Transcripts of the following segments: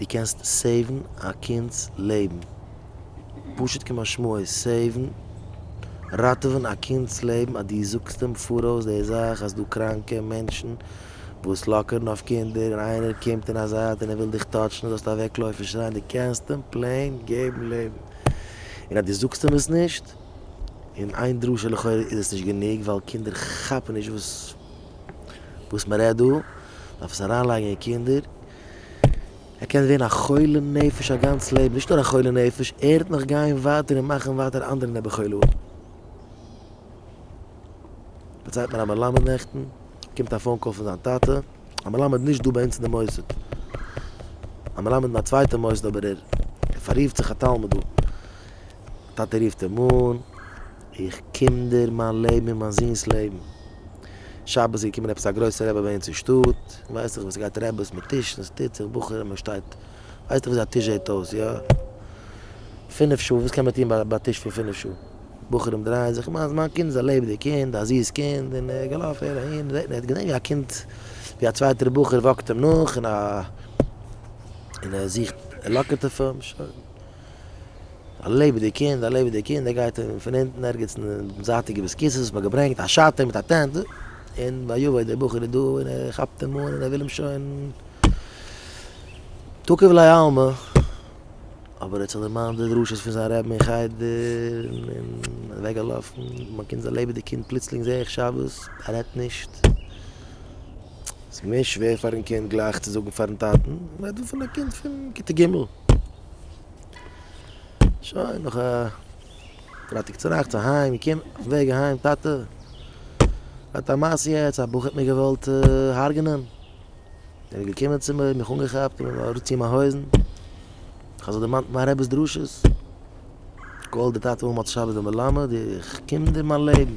דו קענסט סעיוון א קינד'ס לעבן. פשוט כמשמעו סעיוון, ראטעווען א קינד'ס לעבן אז דו זאגסט אים פאראויס די זאך אז ס'דא קראנקע מענטשן וואס לאקערן אויף קינדער און איינער קומט אין א זייט און ער וויל דיך טאטשן זאלסטו אוועקלויפן שרייען דו קענסט אים פלעין געבן לעבן. און אז דו זאגסט אים עס נישט, און איין דרשה לכאורה איז עס נישט גענוג ווייל קינדער כאפן נישט וואס מ'רעדט דא, דארף עס אריינלייגן אין קינדער. ער קען ווערן א חולה נפש א גאנץ לעבן, נישט נאר א חולה נפש, ער וועט נאך גיין ווייטער און מאכן ווייטער אנדערע נעבעכילואים. דערציילט מיר א מלמד נעכטן, קומט א פאון קאל פון זיין טאטע, א מלמד נישט דא ביי אונז אין די מוסד, א מלמד אין א צווייטע מוסד אבער ער פאררופט זיך א תלמיד דא, טאטע רופט אים אן, איך קינדער מיין לעבן און מיין זון'ס לעבן. שבת איז געקומען עפעס א גרויסע רבי ביי אונז אין שטאט, ווייסט זיך וואס עס גייט רעבעס מיט טישן, עס טוט זיך בחורים מען שטייט, ווייסט זיך ווי אזוי א טיש זעט אויס, יא? פינף שעה, וואס קען מען טון ביי א טיש פון פינף שעה? בחורים דרייען זיך, מיינס מיין קינד איז א לעבעדיג קינד, א זיס קינד, און ער געלאפן הער אהין, זעט מען ער האט געזען ווי א קינד, ווי א צווייטער בחור וואקט אים נאך, און ער זוכט ער לאקערט אויף אים, שוין. א לעבעדיג קינד, א לעבעדיג קינד, ער גייט און פון אונטן ערגעץ אין די זייטיגע ביסקיסעס האט מען געברענגט א שאטער מיט א טענט, און ויבא דער בחור איז דא און ער כאפט אים אן און ער וויל אים שוין תוקף ליה עלמא, אבער ער האט זיך דערמאנט די דרשות פון זיין רבי אין חדר און איז אוועק געלאפן, מיין קינד איז א לעבעדיג קינד, פלוצלינג זעה איך שבת ער רעדט נישט, ס'איז געווען שווער פארן קינד גלייך צו זאגן פארן טאטן, מ'רעדט דא פון א קינד פון כיתה ג'. שוין נאך א פרייטאג צונאכטס אהיים געקומען אויפן וועג אהיים טאטע האט א מעשה יעצט א בחור האט מיר געוואלט הרג'נען ער איז געקומען צו מיר מיך אנגעכאפט און מיר אראפציען מיין הויזן איך האב זיך דערמאנט מיין רב'ס דרשות כל דתתא הוא מוצא שבת ומלמד איך קום דיר מיין לעבן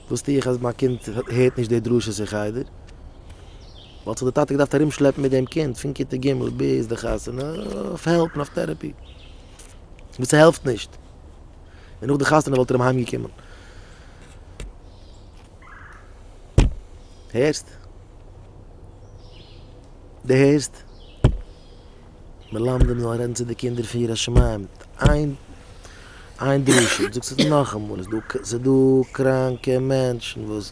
וואס טו איך אז מיין קינד הערט נישט די דרשות אין חדר וואלט זיך די טאטע געדארפט ארום שלעפן מיט דעם קינד פון כיתה ג' ביז די חתונה אויף העלפ און אויף טערעפי וואס ס'העלפט נישט און נאך די חתונה וואלט ער אים אהיים געקומען הערסט? די הערסט? מלמדים זאלן רעדן צו די קינדער פון יראת שמים איין איין דרשה זאגסט עס נאכאמאל איז דא איז דא קראנקע מענטשן וואס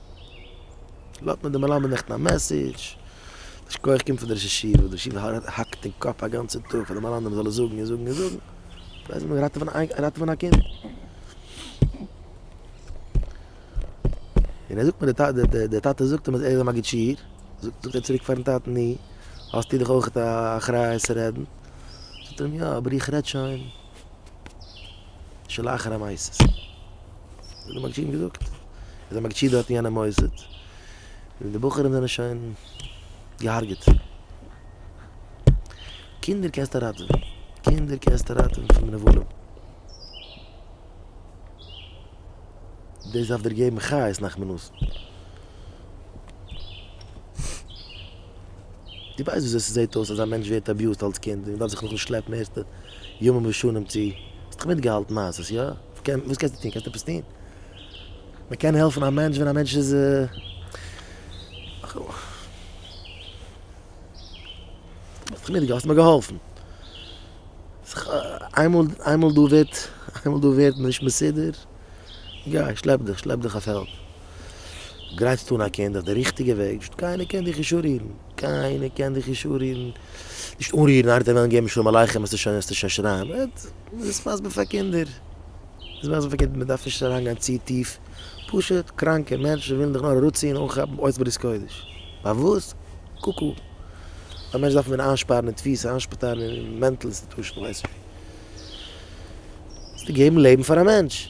לאזט מען די מלמד נעכטן א מעסעדזש, יישר כח קומט פון די ראש ישיבה, די ישיבה האקט אין קאפ א גאנצע טאג פאר די מלמדים זאלן זאגן און זאגן און זאגן, זיי זאלן ראטעווען ראטעווען א קינד. און ער זאגט מיר די טאטע זאגט אים אז ער איז א מגיד שיעור, זאגט ער צוריק פארן טאטן נו, האסטו דאך אויך א אחריות צו רעדן, זאגט ער אים יא אבער איך רעד שוין. שלאחר המעשה איז דער מגיד שידען געזאגט איז דער מגיד שידען האט אין יענע מוסד און די בחורים זענען שוין געהארגעט קינדער קענסטו ראטעווען קינדער קענסטו ראטעווען פון נבלים דאס דארף דיר געבן חיות נאך מנוס די ווייסט ווי אזוי ס'זעהט אויס אז א מענטש ווערט אביוזט אלס קינד און דארף זיך נאכן שלעפן ערשטע ימים ראשונים צו, האסט דאך מיטגעהאלטן מעשות, יא? וואס קענסטו טון? קענסטו עפעס טון? מען קען העלפן א מענטש ווען א מענטש איז וכו'. האסט דאך מיטגעהאלטן, האסט מיר געהאלפן. איינמאל דא ווערט, איינמאל דא ווערט מען נישט מסודר, גיי, שלעפ דיך, שלעפ דיך אויף העלפ. גרייטסט אן א קינד אויף די ריכטיגע וועג, קיינער קען דיך נישט אנרירן. קיינער קען דיך נישט אנרירן, נישט אנרירן ארט זיי וועלן געבן שלום עליכם וועסטו שוין וועסטו שוין שרייען, אט איז מסביר פאר קינדער, איז מסביר פאר קינדער, מען דארף נישט אריין גיין צו טיף, פשוט קראנקע מענטשן ווילן דיך נאר אראפציען אנכאפן אויס ברית קודש, פארוואס? קוקו, א מענטש דארף מען איינשפארן אין תפיסה, איינשפטארן אין מענטל אינסטיטושן, כ'ווייס נישט ווי, זיי געבן לעבן פאר א מענטש.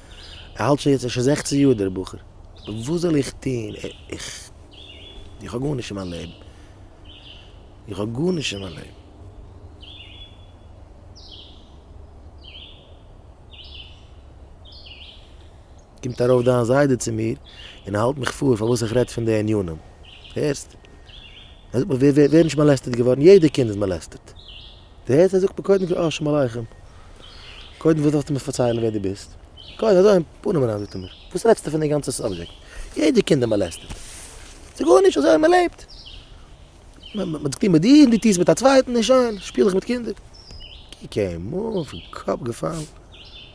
ער האלט שוין יעצט ער איז שוין זעכצן יאר דער בחור וואס זאל איך טון איך איך האב גארנישט אין מיין לעבן איך האב גארנישט אין מיין לעבן. קומט ארויף דיין זיידע צו מיר און האלט מיך פאר פארוואס איך רעד פון די ענינים הערסט? ער זאגט מיר ווער ווער איז נישט מאלעסטעט געווארן יעדע קינד איז מאלעסטעט. די הערסט ער זאגט מיר קודם כל אשעם עליכם קודם וואס ווילסטו מיר פארציילן ווער די ביסט קודם אזוי אין פנים אריין זאגט ער מיר וואס רעדסטו פון די גאנצע סאבזשעקט יעדע קינד איז מאלעסטעד ס'גארנישט אזוי מען לעבט מ'האט צו טון מיט די אידן דו טוסט מיט א צווייטן נישט שיין שפיל איך מיט קינדער קוק אים אן פון קאפ געפאלן.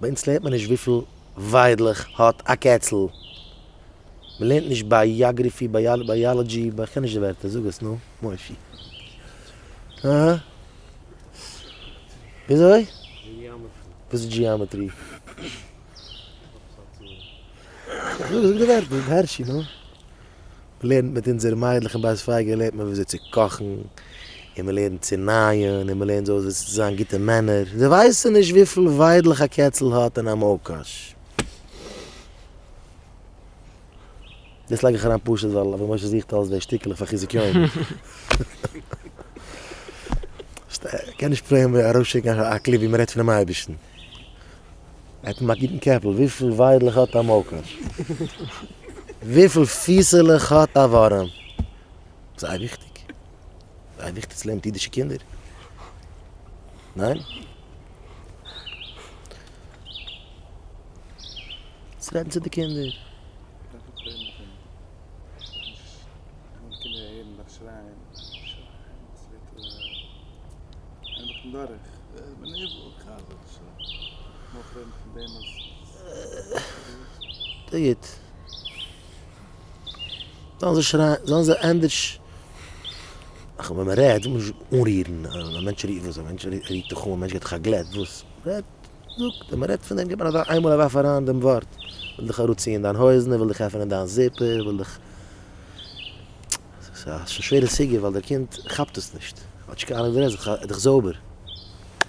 ביי אונז לערנט מען נישט וויפיל וויידלעך האט א קעצל, מען לערנט נישט בייאגריפי, בייאלאדזשי, איך קען נישט די ווערטער, זאג עס נא מוישי. אהה. וויאזוי? וואס איז דזשיאמעטרי? זאג די ווערטער הערשי נא. מ'לערנט מיט אונזערע מיידלעך אין בית פייגא לערנט מען וויאזוי צו קאכן, און מ'לערנט צו נייען, און מ'לערנט זיי אויס וויאזוי צו זיין גוטע מענער, זיי ווייסן נישט וויפיל וויידלעך א קעצל האט אין א מויל קאש. דאס לייג איך אריין פשוט ווייל אבי משה זוכט אלץ די שטיקלעך פאר חיזוק יום. כ'קען נישט פרעגן אראפשיקן א קליפ ווי מ'רעדט פונעם אייבערשטן. ער האט אים א גוטן קעפל. וויפיל וויידלעך האט א מויקאש? וויפיל פיסעלעך האט א ווארעם? זייער וויכטיג. זייער וויכטיג צו לערנען מיט אידישע קינדער. ניין? צו רעדן צו די קינדער. ס'איז גוט. זאלן זיי שרייען, זאלן זיי ענדערש. ח ו ווען מ'רעדט זאל מען נישט אנרירן א מענטש רירט וואס, א מענטש רירט זיך אן, א מענטש געט דיך א גלעט וואס. רעדט, זאג, ווען מ'רעדט פון דעם גיב אן אזא איינמאל א ווארף אריין דעם ווארט. וויל דיך אראפציען דיין הויזן, וויל דיך עפענען דיין זיפער, וויל דיך. ס'איז א שווערע סוגיא ווייל דער קינד כאפט עס נישט. כאטש קיינער נישט דערהערט, ער איז דאך זויבער.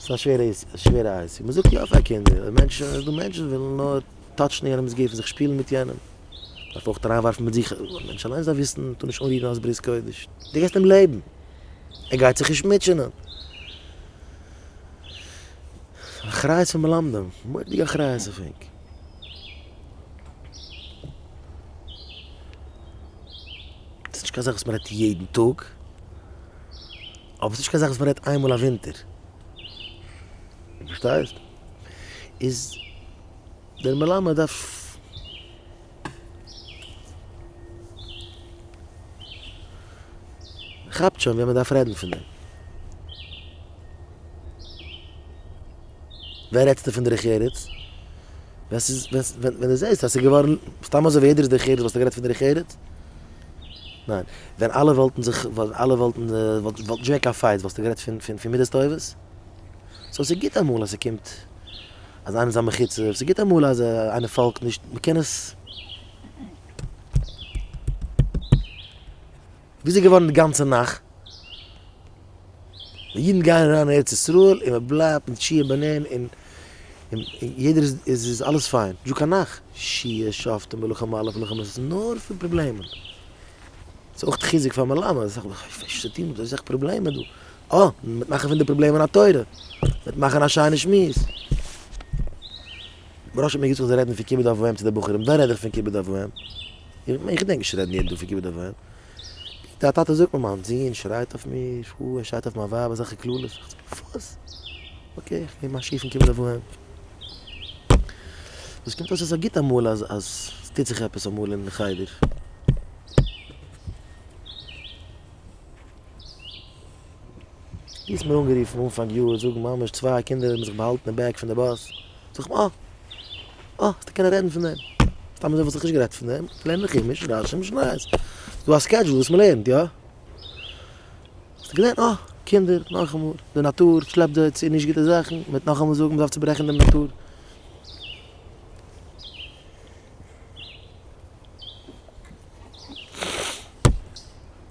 ס'איז א שווערע עיסוק, א שווערע עיסוק. מ'זאגט יא פאר קינדער, אבער מענטשן, ס'איז דא מענטשן וואס ווילן נאר טאטשן יענעמ'ס גוף און זיך שפילן מיט יענעם. מ'דארף אויך אריינווארפן מיט זיך, א מענטש אליינס דארף וויסן, טו נישט אנרירן אלס ברית קודש. דו געבסט אים לעבן. ער גייט זיך נישט מוטשענען. אחריות פון מלמדים, מורא'דיגע אחריות אויף ענק. ס'איז נישט קיין זאך וואס מ'רעדט יעדן טאג. אבער ס'נישט קיין זאך וואס מען רעדט איינמאל א ווינטער. דו פארשטייסט? איז דער מלמד דארף. כאפט שוין ווען מען דארף רעדן פון דעם. ווען רעדסטו פון דרך ארץ? ווען ס'איז, ווען דו זעסט אז ס'איז געווארן, סתם אזוי ווי יעדער איז דרך ארץ וואלסטו גערעדט פון דרך ארץ? ניין, ווען אלע וואלטן זיך, ווען אלע וואלטן, וואלט נישט געווען קיין פייטס, וואלסטו גערעדט פון, פון, פון מידות טובות? סאו ס'איז גוט אמאל אז ס'קומט אז איינער איז א מחוצף, ס'איז גוט אמאל אז איינער פאלגט נישט, מ'קען עס. וויאזוי געווארן די גאנצע נאכט? די אידן גייען אריין אין ארץ ישראל און מ'בלייבט מיט שיער בנין און. און יעדער איז, איז, איז אלעס פיין. דזשוק א נאך. שיעור שופטים מלאכה מלא פון מלחמות, ס'איז נאר פון פראבלעמען. ס'איז אויך חיזוק פאר מלמד, אז זאך, איך פארשטיי נישט וואס אזוי סאך פראבלעמען דא. אה! מ'וועט מאכן פון די פראבלעמען א תורה. מ'וועט מאכן א שיינע שמועס. בראש האט מיר געזאגט איך זאל רעדן פון כיבוד אב ואם צו די בחורים. ווען רעד איך פון כיבוד אב ואם? איך, איך דענק נישט צו רעדן יעדן טאג פון כיבוד אב ואם. די א טאטע זאגט מיר מיין זון שרייט אויף מיר פאר ער שרייט אויף מיין ווייב אזעלכע קללות איך זאג וואס? אקעי איך נעם א שיף און קום זיי וואוהן. וואס קומט אויס עס איז גוט אמאל אז אז עס טוט זיך עפעס אמאל אין חדר. ווי האסט מיר אנגערופן אנפאנג יאר זאגן ממש צוויי קינדער האבן זיך באהאלטן אין בעק פון די באס, זאג איך אה אה האסטו קענען רעדן פון דעם, סתם אזוי וואלט איך נישט גערעדט פון דעם, איך לערן אין חומש, רשי, משניות, ס'דא א סקעדזשול וואס מ'לערנט יא? האסטו געזען אה קינדער נאכאמאל די נאטור שלעפט זיי צו נישט גוטע זאכן, מ'וועט נאכאמאל זאגן מ'דארף צוברעכן דעם נאטור.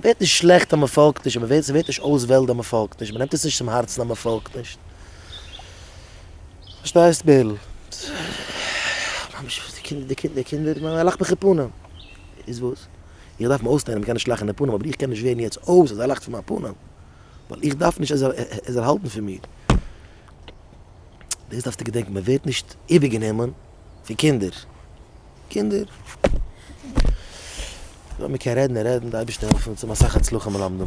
ווערט נישט שלעכט אז מען פאלגט נישט, אבער ס'ווערט נישט אויסוועלד אז מען פאלגט נישט, מען נעמט עס נישט צום הארצן אז מען פאלגט נישט. פארשטייסט בערל? ממש די קינדער, די קינדער, קינדער, ער לאכט מיך אין פנים. איז וואס? איך דארף אים אויסלערנען אז מען קען נישט לאכן אין פנים, אבער איך קען נישט ווערן יעצט אויס אז ער לאכט פון מיין פנים, ווייל איך דארף נישט ער זאל האלטן פון מיר. דאס דארפסטו געדענקען, מען ווערט נישט איבערגענומען פון קינדער. קינדער. לאמיר קען רעדן און רעדן, די אייבערשטער העלף אונז צו האבן אסאך הצלחה מלמדים.